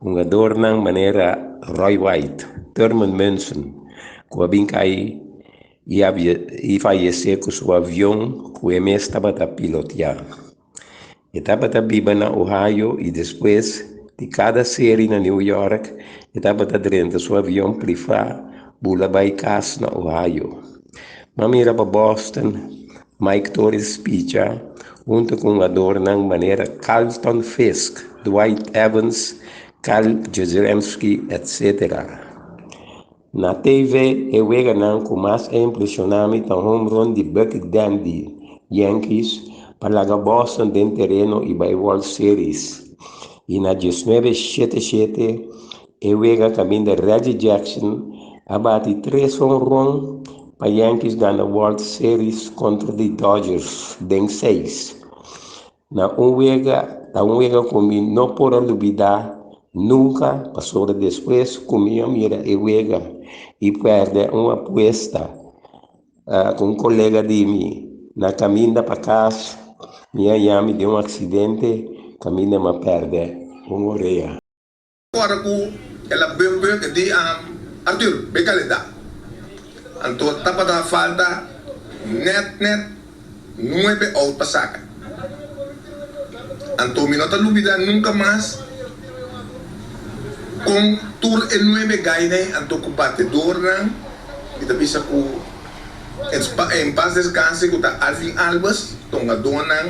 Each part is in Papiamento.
Hungadornan manera Roy White, Thurman Munson, ku a bin kai i fayesé ku su avion ku e mes tabata pilotiá, e tabata biba na Ohio i despues di kada seri na New York e tabata drenta su avion prifá bula bai kas na Ohio. M'a mira pa Boston. Mike Torres picha huntu ku hungadornan manera Carlton Fisk, Dwight Evans, Karl Jezieremski etc. Na TV e weganan ku mas a impresiona mi ta home run di Bucky Dent di Yankees pa laga Boston den tereno i bai World Series i na dies nuebe shete shete E wega kaminda Reggie Jackson a bati tres honron pa Yankees gana World Series kontra di Dodgers den seis na un wega ta un wega ku mi no por a lubidá nunka pasobra despues ku mi a mira e wega i pèrdè un apuesta ku un kolega di mi na kaminda pa kas mi a yami den un aksidente kaminda mi a pèrdè un orea. Ora ku el a beu beu e di am, Artur, be kal e ta. Anto tabata a falta nèt nèt nuebe oud pa saka. Anto mi no ta lubidá nunka mas kon tur e nuebe gainan anto ku batedornan mi ta bisa ku en pas descanse ku ta Alvin Albers ta un adónan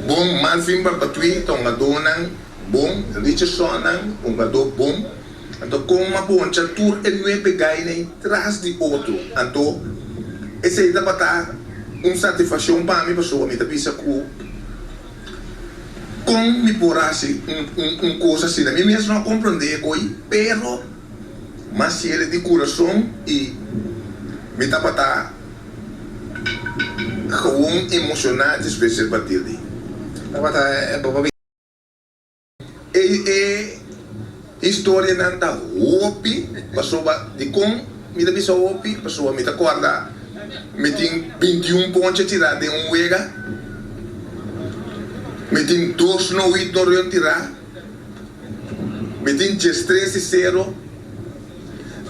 bon malfin papatuí ta un adónan. Bon, Richardsonnan, un badó bon. Anto kon m'a poncha tur e nuebe gaina ei tras di otro? Anto esei tabata un satisfakshon pa mi pasobra mi ta bisa ku kon mi por hasi un kos asina? Mi mes no a komprondé e koi, pero m'a siel di kurason i mi tabata gewoon emoshoná despues el partir di. Tabata e papá. Ei e historianan ta hopi pasobra dikon mi ta bisa hopi pasobra mi ta kòrda mi tin bintiun poncha tirá den un wega, mi tin dos no wit no rion tirá, mi tin djestres di sero,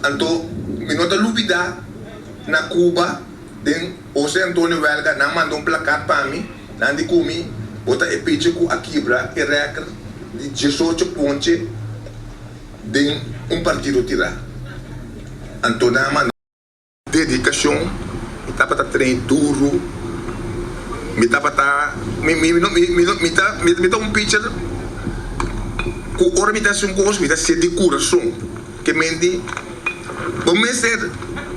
anto mi no ta lubidá na Cuba den. Jose Antonio Welga, Nan manda un plakat pa mi, nan di ku mi, Bo ta e pichi ku a kibra e rèkr di diesocho ponche den un partido tirá. Anto nan a manda. Dedikashon, mi tabata trein duru, mi tabata, mi, mi, mi no, mi ta, mi ta un picher ku ora mi ta hasi un kos mi ta hasié di kurason. Te menti. Bo mester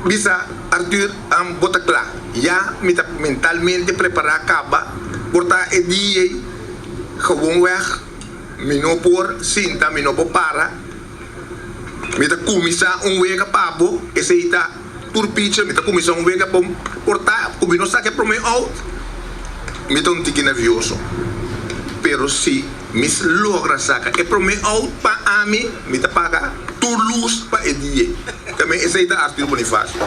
bisa Arthur an bo ta kla. Ya, mi ta mentalmente prepará kaba por ta e dia ei. Gewoonweg, mi no por sinta, mi no por para. Mi ta kuminsá un wega pa bo, esei ta. Tur picha mi ta kuminsá un wega pa portá ku mi no saka e promé out. Mi ta un tiki nervioso, pero si mi logra saka e promé out pa ami, mi ta paga tur lus pa e dia. Ta mi esei ta Arthur Bonifacio.